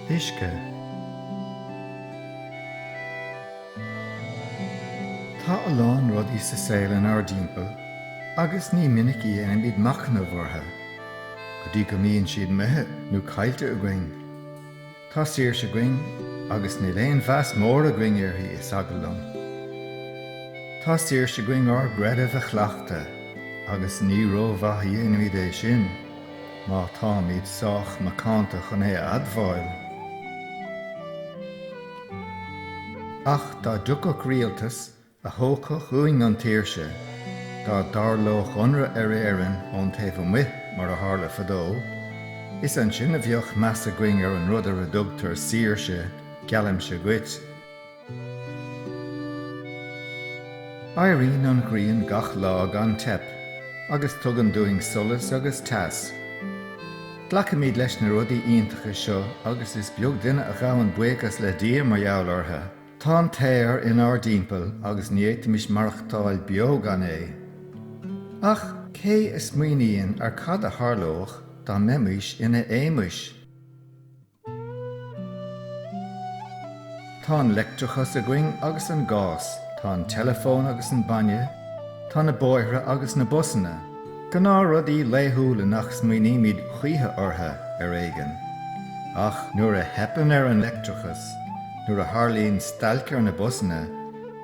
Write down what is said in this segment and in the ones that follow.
uisce. Tá a lán rudaí sa saol inár dtimpeall agus ní minic a dhéanaimid machnamh orthu go dtí go mbíonn siad imithe nó caillte againn. Tá saoirse againn agus níl aon mheas mór againn uirthi, is eagal liom. Tá saoirse againn ár gcreideamh a chleachtadh agus ní rómhaith a dhéanaimid é sin má táimid sách macánta chun é a admháil. Ach dá dtiocfadh rialtas a thógfadh uainn an tsaoirse dá dtarlódh ionradh ar Éirinn ón taobh amuigh mar a tharla fadó, is ansin a bheadh meas againn ar an rud ar a dtugtar saoirse, geallaimse dhuit. Éiríonn an ghrian gach lá gan teip agus tugann dúinn solas agus teas. Glacaimid leis na rudaí iontacha seo agus is beag duine a ghabhann buíochas le Dia mar gheall orthu. Tá an t-aer inár dtimpeall agus ní fhéadfaimis maireachtáil beo gan é. Ach cé a smaoiníonn ar cad a tharlódh dá mbeimis ina éamais? Tá an leictreachas againn agus an gás, tá an teileafón agus an bainne, tá na bóithre agus na busanna. Gnáthrudaí laethúla nach smaoinímid choíche orthu, ar éigean. Ach nuair a theipeann ar an leictreachas, nuair a tharlaíonn stailc ar na busanna,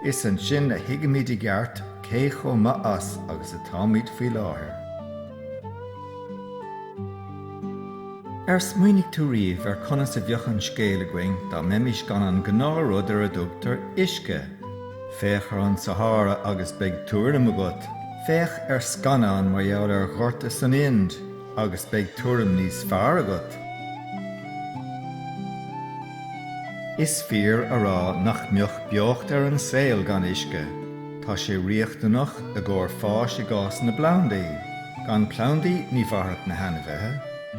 is ansin a thuigimid i gceart cé chomh maith as agus atáimid faoi láthair. Ar smaoinigh tú riamh ar conas a bheadh an scéal againn dá mbeimis gan an gnáthrud ar a dtugtar 'uisce'? Féach ar an Sahára agus beidh tuairim agat. Féach ar scannán mar gheall ar ghorta san Ind agus beidh tuairim níos fearr agat. Is fíor a rá nach mbeadh beocht ar an saol gan uisce. Tá sé riachtanach i gcomhair fáis i gcás na bplandaí. Gan plandaí ní mhairfeadh na hainmhithe.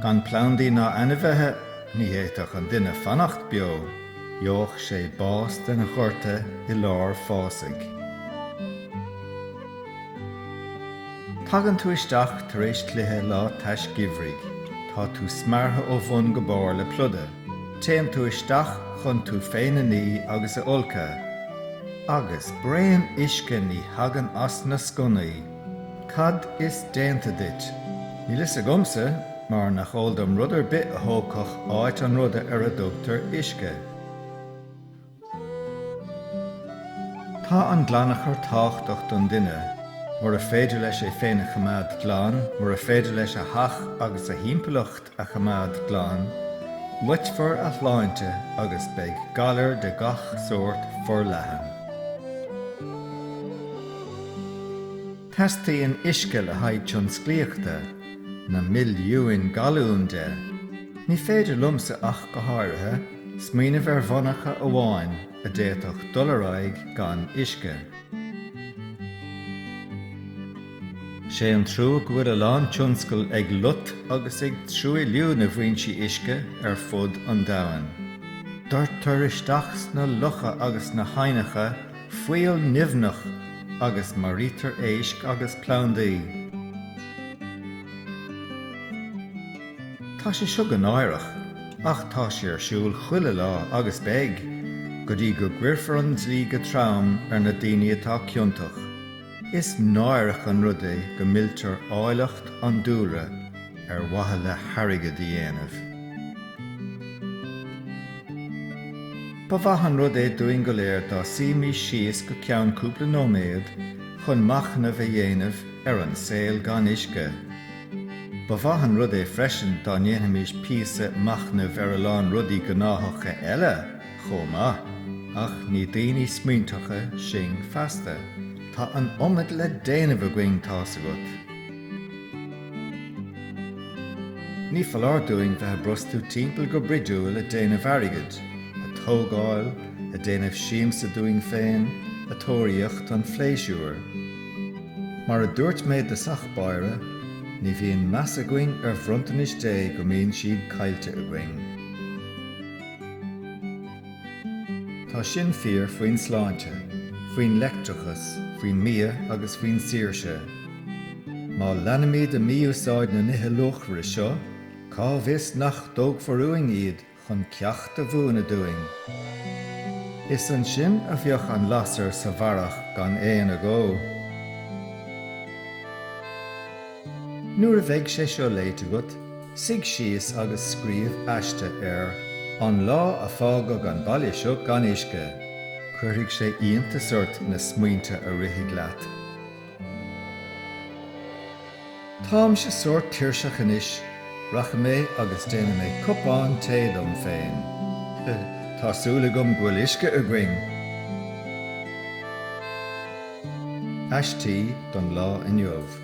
Gan plandaí ná ainmhithe ní fhéadfadh an duine fanacht beo. Gheobhadh sé bás den ghorta i lár fásaigh. Tagann tú isteach tar éis cluiche lá tais geimhridh. Tá tú smeartha ó bhun go barr le pluda. Téann tú isteach chun tú féin a ní agus a fholcadh. Agus braon uisce ní thagann as na sconnaí! Cad is déanta duit? Níl fhios agamsa mar nach eol dom rud ar bith a thógfadh áit an ruda ar a dtugtar uisce. Tá an glanachar tábhachtach don duine, mura féidir leis é féin a choimeád glan, mura féidir leis a theach agus a thimpeallacht a choimeád glan, loitfear a shláinte agus beidh galair de gach sórt forleathan. Teastaíonn uisce le haghaidh tionsclaíochta, na milliúin galún de. Ní féidir liomsa ach go háirithe, smaoineamh ar mhonarcha amháin a d'fhéadfadh dul ar aghaidh gan uisce. 'Sé an trua go bhfuil a lán tionscal ag lot agus ag truailliú na bhfoinsí uisce ar fud an domhain. Doirtear isteach sna locha agus sna haibhneacha fuíoll nimhneach agus maraítear éisc agus plandaí. Tá sé seo go náireach, ach tá sé ar siúl chuile lá agus beidh, go dtí go gcuirfear an dlí go trom ar na daoine atá ciontach. Is náireach an rud é go milltear áilleacht an dúlra ar mhaithe le hairgead a dhéanamh. Ba mhaith an rud é dúinn go léir dá suímís síos go ceann cúpla nóiméad chun machnamh a dhéanamh ar an saol gan uisce. Ba mhaith an rud é freisin dá ndéanfaimís píosa machnaimh ar a lán rudaí gnáthacha eile. chomh maith. Ach ní daoine smaointeacha sinn feasta. Tá an iomad le déanamh againn, tá's agat. Ní foláir dúinn bheith ag brostú timpeall go bruidiúil ag déanamh airgid, ag tógáil, ag déanamh siamsa dúinn féin, ag tóraíocht an phléisiúir. Mar a dúirt mé i dtosach báire, ní bhíonn meas againn ar bhronntanais Dé go mbíonn siad caillte againn. Tá sin fíor faoin sláinte, faoin leictreachas, faoin mbia agus faoin saoirse. Má leanfaimid de mhí-úsáid na nithe luachmhara seo, cá bhfios nach dtógfar uainn iad chun ceacht a mhúineadh dúinn? Is ansin a bheadh an lasair sa bharrach gan aon agó. Nuair a bheidh sé seo léite agat, suigh síos agus scríobh aiste ar An lá a fágadh an baile seo gan uisce. Cuirfidh sé iontas ort na smaointe a rithfidh leat. Táimse sórt tuirseach anois, rachaidh mé agus déanfaidh mé cupán tae dom féin. Tá súil agam go bhfuil uisce againn! Aistí don lá inniu.